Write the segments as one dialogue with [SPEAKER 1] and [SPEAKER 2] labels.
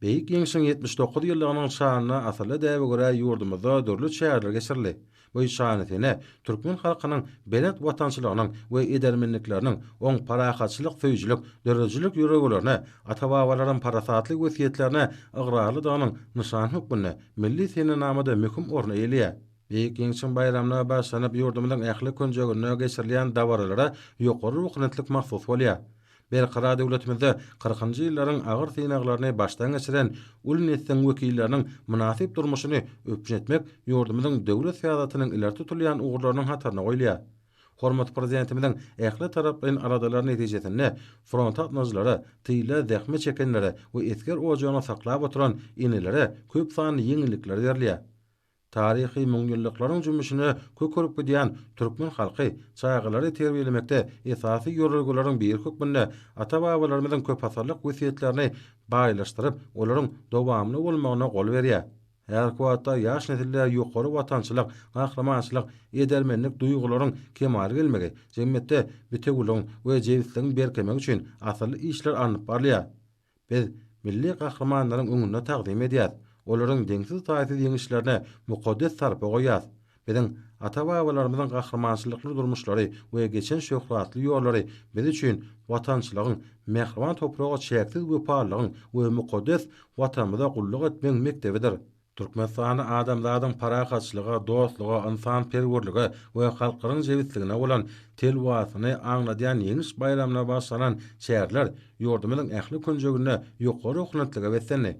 [SPEAKER 1] Beýik Ýeňşiň ýetmiş dokuz ýyllygynyň şanyna asylly däbe görä ýurdumyzda dürli çäreler geçirildi. Bu şanysene türkmen halkynyň belent watançylygynyň we edermenlikleriniň, oň parahatçylyk söýüjilik, döredijilik ýöregelerine, ata-babalaryň parasatly wesýetlerine ygrarlydygynyň nyşany hökmünde milli senenamada möhüm orun eýeleýär. Beýik Ýeňşiň baýramyna bagyşlanyp ýurdumyzyň ähli künjeginde geçirilýän dabaralara ýokary ruhubelentlik mahsus bolýar. Berkarar döwletimizde kyrkynjy ýyllaryň agyr synaglaryny başdan geçiren uly nesliň wekilleriniň mynasyp durmuşyny üpjün etmek ýurdumyzyň döwlet syýasatynyň ileri tutulýan ugurlarynyň hataryna goýulýar. Hormatly Prezidentimiziň ähli taraplaýyn aladalary netijesinde fronta gatnaýjylara, tyla zähmet çekenlere we esger ojagyny saklap oturan enelere köp sanly ýeňillikler berilýär. Taryhy müňýyllyklaryň jümmüşine kök urup gidýän türkmen halky çagalary terbiýelemekde esasy ýörelgeleriň biri hökmünde ata-babalarymyzyň köpasyrlyk wesýetlerini baýlaşdyryp, olaryň dowamly bolmagyna gol berýär. Häzirki wagtda ýaş nesille ýokary watançylyk, gahrymançylyk, edermenlik duýgularyň kemala gelmegi, jemgyýetde bitewüligiň we jebisligiň berkemegi üçin asylly işler alnyp barylýar. Biz milli gahrymanlaryň öňünde tagzym edýäs, olaryň deňsiz-taýsyz ýeňişlerine mukaddes sarpa goýýas. Biziň ata-babalarymyzyň gahrymançylykly durmuşlary we geçen şöhratly ýollary biz üçin watançylygyň, mähriban topraga çäksiz wepalylygyň we mukaddes Watanymyza gulluk etmegiň mekdebidir. Türkmenistanda adamzadyň parahatçylyga, dostluga, ynsanperwerlige we halklaryň jebisligine bolan telwasyny aňladýan Ýeňiş baýramyna bagyşlanan çäreler ýurdumyzyň ähli künjeginde ýokary oklentlige beslendi.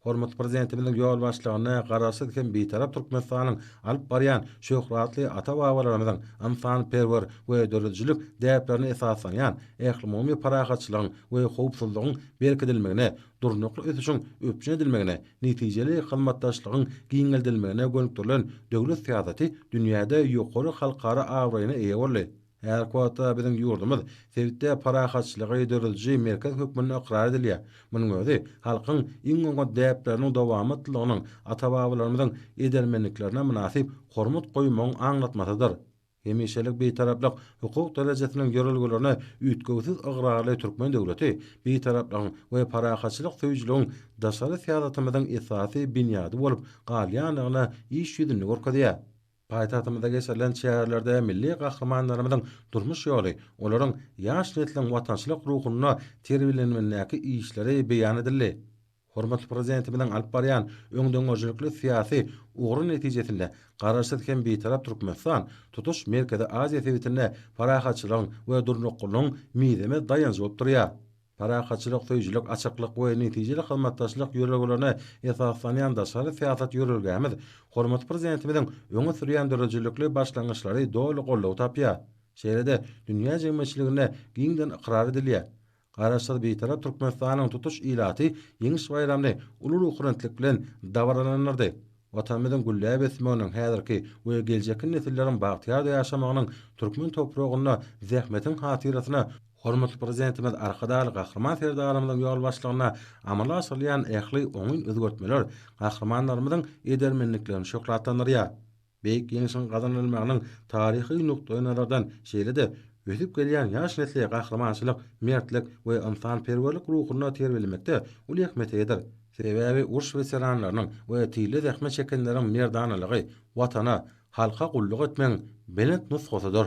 [SPEAKER 1] Hormatly Prezidentimiziň ýolbaşçylygynda Garaşsyz hem Bitarap Türkmenistanyň alyp barýan şöhratly ata-babalarymyzyň ynsanperwer we döredijilik däplerine esaslanýan ählumumy parahatçylygyň we howpsuzlygyň berkidilmegine durnukly ösüşiň üpjün edilmegine, netijeli hyzmatdaşlygyň giňeldilmegine gönükdirilen döwlet syýasaty dünýäde ýokary halkara abraýyna eýe boldy. Häzirki wagtda biziň ýurdumyz sebitde parahatçylygy dörediji merkez hökmünde ykrar edilýär. Munuň özi halkyň iň oňat däpleriniň dowamatlylygynyň, ata-babalarymyzyň edermenliklerine mynasyp hormat goýmagyň aňlatmasydyr. Hemişelik Bitaraplyk hukuk derejesiniň ýörelgelerine üýtgewsiz ygrarly türkmen döwleti Bitaraplygyň we parahatçylyk söýüjiligiň daşary syýasatymyzyň esasy binýady bolup galýandygyny iş ýüzünde görkezýär. Paýtagtymyzda geçirilen çärelerde milli gahrymanlarymyzyň durmuş ýoly, olaryň ýaş nesliň watançylyk ruhunda terbiýelenmindäki işleri beýan edildi. Hormatly Prezidentimiziň alyp barýan öňdengörüjilikli syýasy ugry netijesinde Garaşsyz hem Bitarap Türkmenistan tutuş Merkezi Aziýa sebitinde parahatçylygyň we durnuklylygyň mizemez daýanjy bolup durýar. Parahatçylyk söýüjilik, açyklyk we netijeli hyzmatdaşlyk ýörelgelerine esaslanýan daşary syýasat ýörelgämiz hormatly Prezidentimiziň öňe sürýän döredijilikli başlangyçlary doly goldaw tapýar, şeýle-de dünýä jemgyýetçiliginde giňden ykrar edilýär. Garaşsyz Bitarap Türkmenistanyň tutuş ilaty Ýeňiş baýramyny uly ruhubelentlik bilen dabaralandyrdy. Watanymyzyň gülläp ösmeginiň, häzirki we geljekki nesilleriň bagtyýar ýaşamagynyň türkmen topragynda zähmetiň hatyrasyna hormatly Prezidentimiz Arkadagly Gahryman Serdarymyzyň ýolbaşçylygynda amala aşyrylýan ähli oňyn özgertmeler gahrymanlarymyzyň edermenliklerini şöhratlandyrýar. Beýik Ýeňşiň gazanylmagynyň taryhy nukdaýnazardan, şeýle-de ösüp gelýän ýaş nesli gahrymançylyk, mertlik we ynsanperwerlik ruhunda terbiýelemekde uly ähmiýete eýedir. Sebäbi uruş weteranlarynyň we tile zähmet çekenleriň merdanalygy Watana, halka gulluk etmegiň belent nusgasydyr.